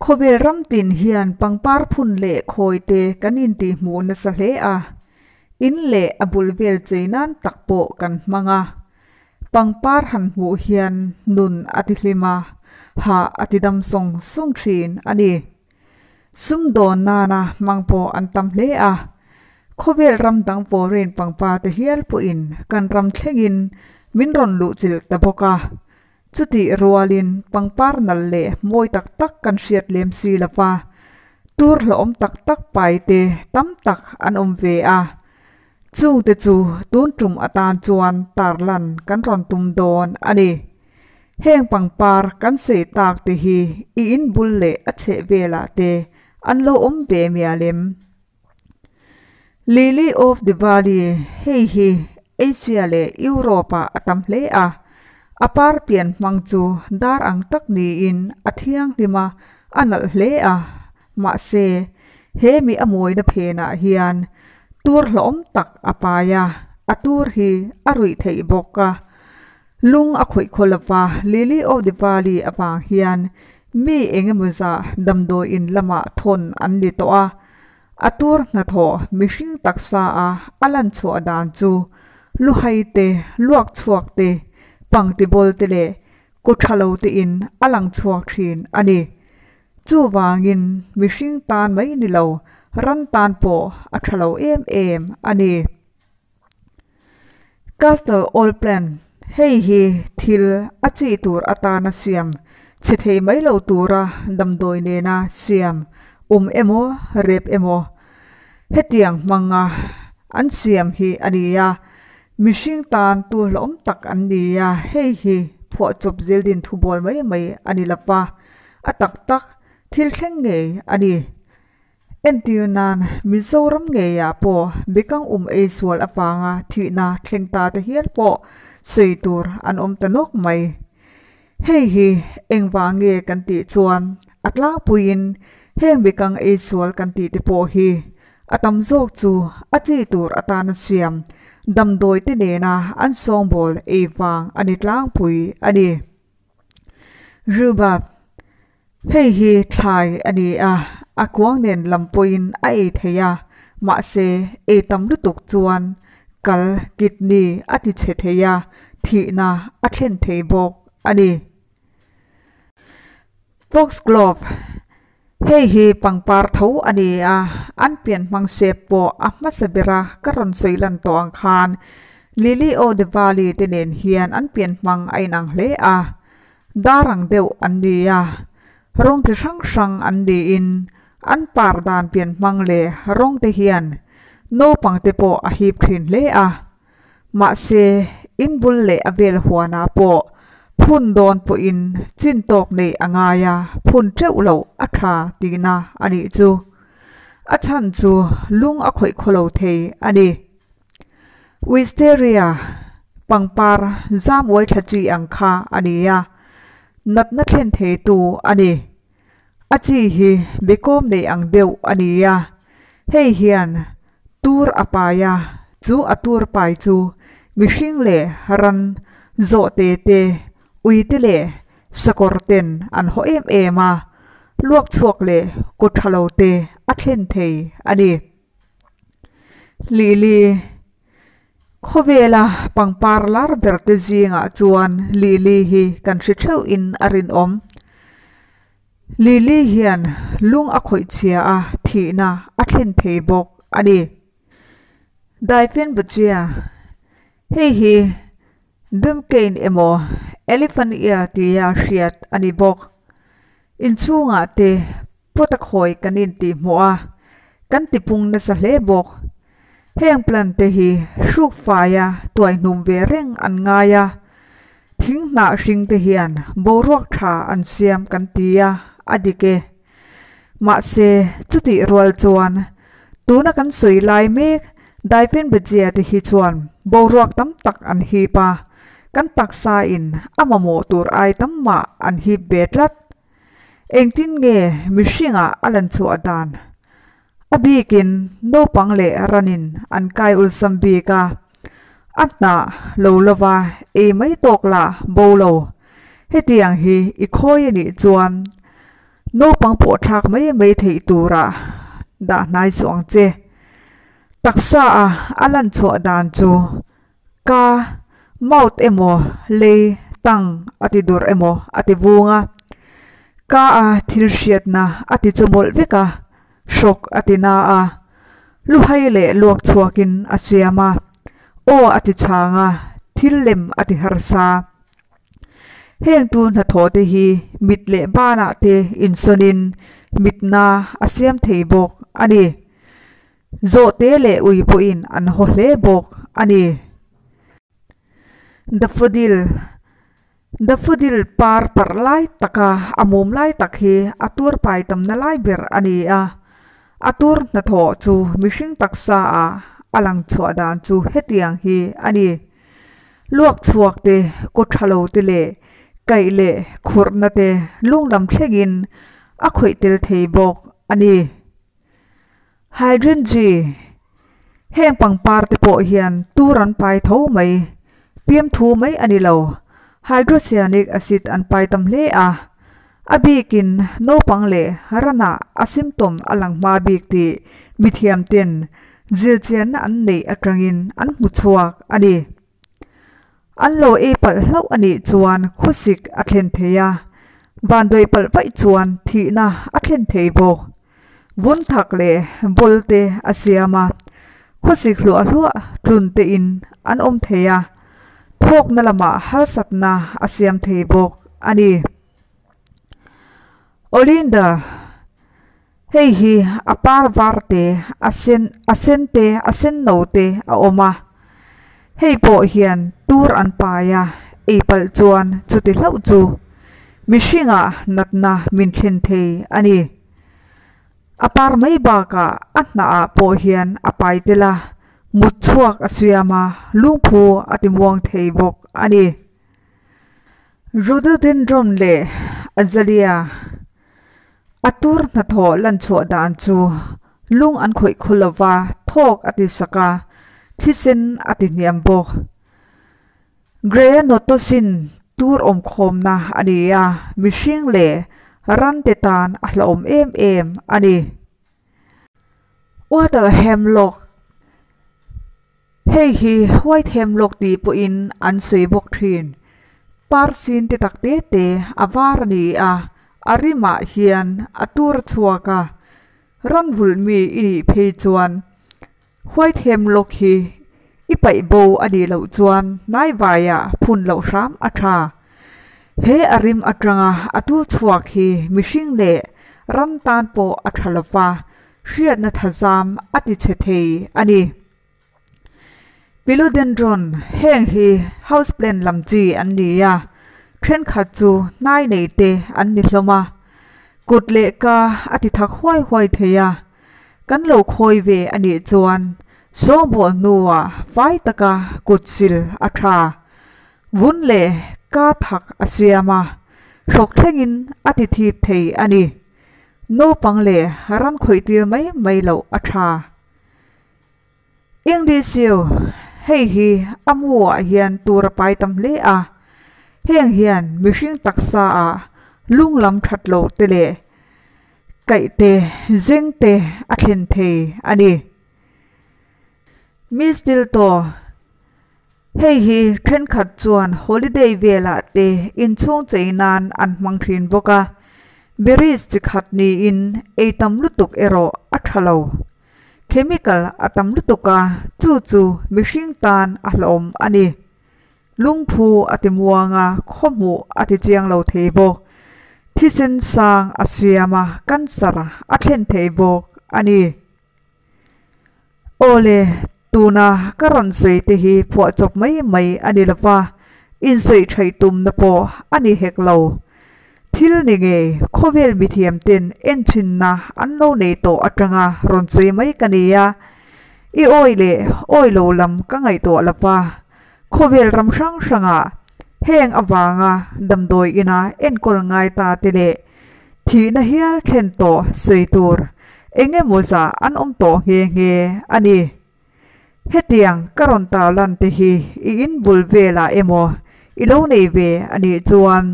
Khawvel ramtin hian pangpar phun leh khawi te kan intih hmuh nasa hle a, in leh a bul vel chei nan tak pawh kan hmang a. Pangpar han hmuh hian nun a ti hlim a, hah a ti dam sawng sawng thin a ni. Sum dawn nana hmang pawh an tam hle a. Khawvel ram dang vawren pangpar te hial pawhin kan ram thlengin min rawn luhchilh ta bawk a. Chutih rualin pangpar nalh leh mawi tak tak kan hriat lem si lo va, tur hlauhawm tak tak paite tam tak an awm ve a. Chungte chu tun tum atan chuan tarlan kan rawn tum dawn a ni. Heng pangpar kan sawi takte hi i in bul leh a chheh velah te an lo awm ve mialem? Lily of the Valley hei hi Asia leh Europe ah a tam hle a, a par pian hmang chu dar ang tak niin a thianghlim a, a nalh hle a. Mahse, he mi a mawina phenah hian tur hlauhawm tak a pai a, a tur hi a ruih theih bawk a. Lung a khawih khaw lova Lily of the Valley avang hian mi engemaw zah damdawi in lamah thawn an ni tawh a. A tur hnathawh mihring taksa a a lan chhuah dan chu luhei te, luak chhuak te, pangtibawl te leh kaw tha lo te in a lang chhuak thin a ni. Chuvangin mihring tan mai ni lo, ran tan pawh a tha lo em em a ni. Castle Oil Plant hei hi thil a chi tur atana siam chhe thei mai lo tura damdawi nena siam um emaw rep emaw hetiang hmanga an siam hi a ni a. Mihring tan tu hlauh awm tak an ni a, hei hi phuah chawp zir din thu bawl mai mai a ni lo va, a tak tak thil thleng ngei a ni. Entir nan, Mizoram ngeiah pawh bikang um ei sual avanga thihna thleng ta te hial pawh sawi tur an awm ta nawk mai. Hei hi engvah nge kan tih chuan a tlangpuiin heng bikang ei sual kan tih te pawh hi a tam zawk chu a chi tur atana siam damdawite nena an sawngbawl ei vang a ni tlangpui a ni. Ruba, Hei hi thlai a ni a, a kuang nen lam pawhin a ei thei a, mahse ei tam lutuk chuan kal, kidney, a ti chhe thei a, thihna a thlen thei bawk a ni. Foxglove, Hei hi pangpar tho a ni a, an pian hmang shape pawh a hmasa ber a, ka rawn sawi lan tawh ang khan Lily-o-the-valley te nen hian an pian hmang a inang hle a, dar ang deuh an ni a, rawng chi hrang hrang an niin an par dan pian hmang leh rawng te hian naupang te pawh a hip thin hle a, Mahse, in bul leh a vel huanah pawh phun dawn pawhin chin tawk neih a ngai a, phun teuh lo a tha tihna a nih chu. A chhan chu lung a khawih khaw lo thei a ni. Wisteria pangpar zamuai thlachi ang kha a ni a, natna thlen theitu a ni. A chi hi biakawm nei ang deuh a ni a, hei hian tur a pai a, chu a tur pai chu mihring leh ran zawh te te, ui te leh sakawr ten an haw em em a, luak chhuak leh kaw tha lo te a thlen thei a ni. Lili. Khawvela pangpar lar berte zingah chuan Lily hi kan hre theuhin a rinawm. Lily hian lung a khawih chhia a, thihna a thlen thei bawk a ni. Daifen Bachia, Hei hi Duncane emaw Elephant Ear tia hriat a ni bawk. Inchhungah te Pu Takhawi kan intihhmuh a, kan tipung nasa hle bawk. Heng plant te hi hruk faia tuai hnum ve reng an ngai a, thing hnah hring te hian boruak tha an siam kan ti a, a dik e. Mahse, chutih rual chuan tuna kan sawi lai mek Daifen Bajia te hi chuan boruak tam tak an hip a, kan taksa in a mamawh tur ai tam mah an hip ve tlat. Engtin nge mihringah a lan chhuah dan? A bikin naupang leh ranin an kai ulsam bik a, a hna lo lova ei mai tawk la bo lo. Hetiang hi i khawi a nih chuan naupang pawhthlak mai mai theih tura dah hnai chuang che. Taksa a a lan chhuah dan chu. Ka mouth emaw lei tang a ti dawrh emaw a ti vung a, ka a thil hriatna a ti chawmawlh vek a, hrawk a ti na a, lu hai leh luak chhuakin a siam a, aw a ti chang a, thil lem a ti harsa. Hengtu hnathawh te hi mit leh banah te insawnin mitna a siam thei bawk a ni. Zawhte leh ui pawhin an haw hle bawk a ni. Daffodil, Daffodil par parh lai taka a mum lai tak hi a tur pai tamna lai ber a ni a. A tur hnathawh chu mihring taksa ah a lang chhuah dan chu hetiang hi a ni. Luak chhuak te, kaw tha lo te leh kaih leh khurhna te lungdam thlengin a khawih tel thei bawk a ni. Hydringy heng pangpar te pawh hian tur an pai tho mai, piam thu mai a ni lo. Hydrocyanic acid an pai tam hle a, a bikin naupang leh ranah a symptom a lang hma bik tih mithiamten zirchianna an neih atangin an hmu chhuak a ni. An law ei palh hlauh a nih chuan khusik a thlen thei a, vanduai palh vaih chuan thihna a thlen thei bawk. Vun thak leh ball te a siam a, khusik hluah hluah tlun te in an awm thei a, thawkna lamah halsatna a siam thei bawk a ni. Olinda. Hei hi a par var te, a sen, a sen te, a senno te a awm a, hei pawh hian tur an pai a, ei palh chuan chuti hlauh chu mihringa natna min thlen thei a ni. A par mai bakah a hnahah pawh hian a pai tel a, mut chhuak a siam a, lungphu a timuang thei bawk a ni. Rhododendron leh Azalea. A tur hnathawh lanchhuah dan chu lung an khawih khaw lo va, thawk a ti sak a, thisen a ti hniam bawk. Gray-a Notosin tur awmkhawmna a ni a, mihring leh rante tan a hlawm em em a ni. Water hemlock, hei hi white hemlock tih pawhin an sawi bawk thin. Par sin te tak te te a var a ni a, a rimah hian a tur chhuak a, ram vulh mi i nih phei chuan. Huaithlem lawk hi i paih bo a nih loh chuan hnaivai ah phun loh hram a tha. He a rim atanga a tu chhuak hi mihring leh ram tan pawh a tha lova hriatna thazam a ti chhe thei a ni. Philodendron heng hi houseplant lam chi an ni a, thenkhat chu hnai neite an ni hlawm a, kut leh ka a tithak huai huai thei a. Kan lo khawi ve a nih chuan Sawhbaw hnua fai taka kut sil a tha. Vun leh ka thak a siam a, hrok thlengin a ti thip thei a ni. Naupang leh ran khawihtir mai mai loh a tha. Engtichhiu, hei hi a hmuah hian tur a pai tam hle a, heng hian mihring taksa a lunglam thatlo te leh kaihte zengte a thlen thei a ni. Miss Tilto, hei hi thenkhat chuan holiday velah te inchhung chei nan an hmang thin bawk a, berries chi khat niin ei tam lutuk erawh a tha lo. Chemical a tam lutuk a, chu chu mihring tan a hlawm a ni. Lungphu a ti muang a, khawhmuh a ti chiang lo thei bawk. Thisen sang a siam a, cancer a thlen thei bawk a ni. Awle Tuna ka rawn sawi te hi phuah chawp mai mai a ni lova, insawi thaih tumna pawh a ni hek lo. Thil ni ngei khawvel mithiam ten enthinna an lo nei tawh atanga rawn sawi mai ka nia. I awi leh awi lo lam ka ngaihtuah lova, Khawvel ram hrang hranga heng avanga damdawi ina enkawl ngai ta te leh thihna hial thlen tawh sawi tur eng emaw zah an awm tawh nghe nghe a ni. Hetiang ka rawn tar lan te hi i in bul velah emaw i lo nei ve a nih chuan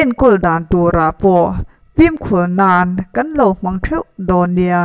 enkawl dan turah pawh fimkhur nan kan lo hmang theuh dawn nia.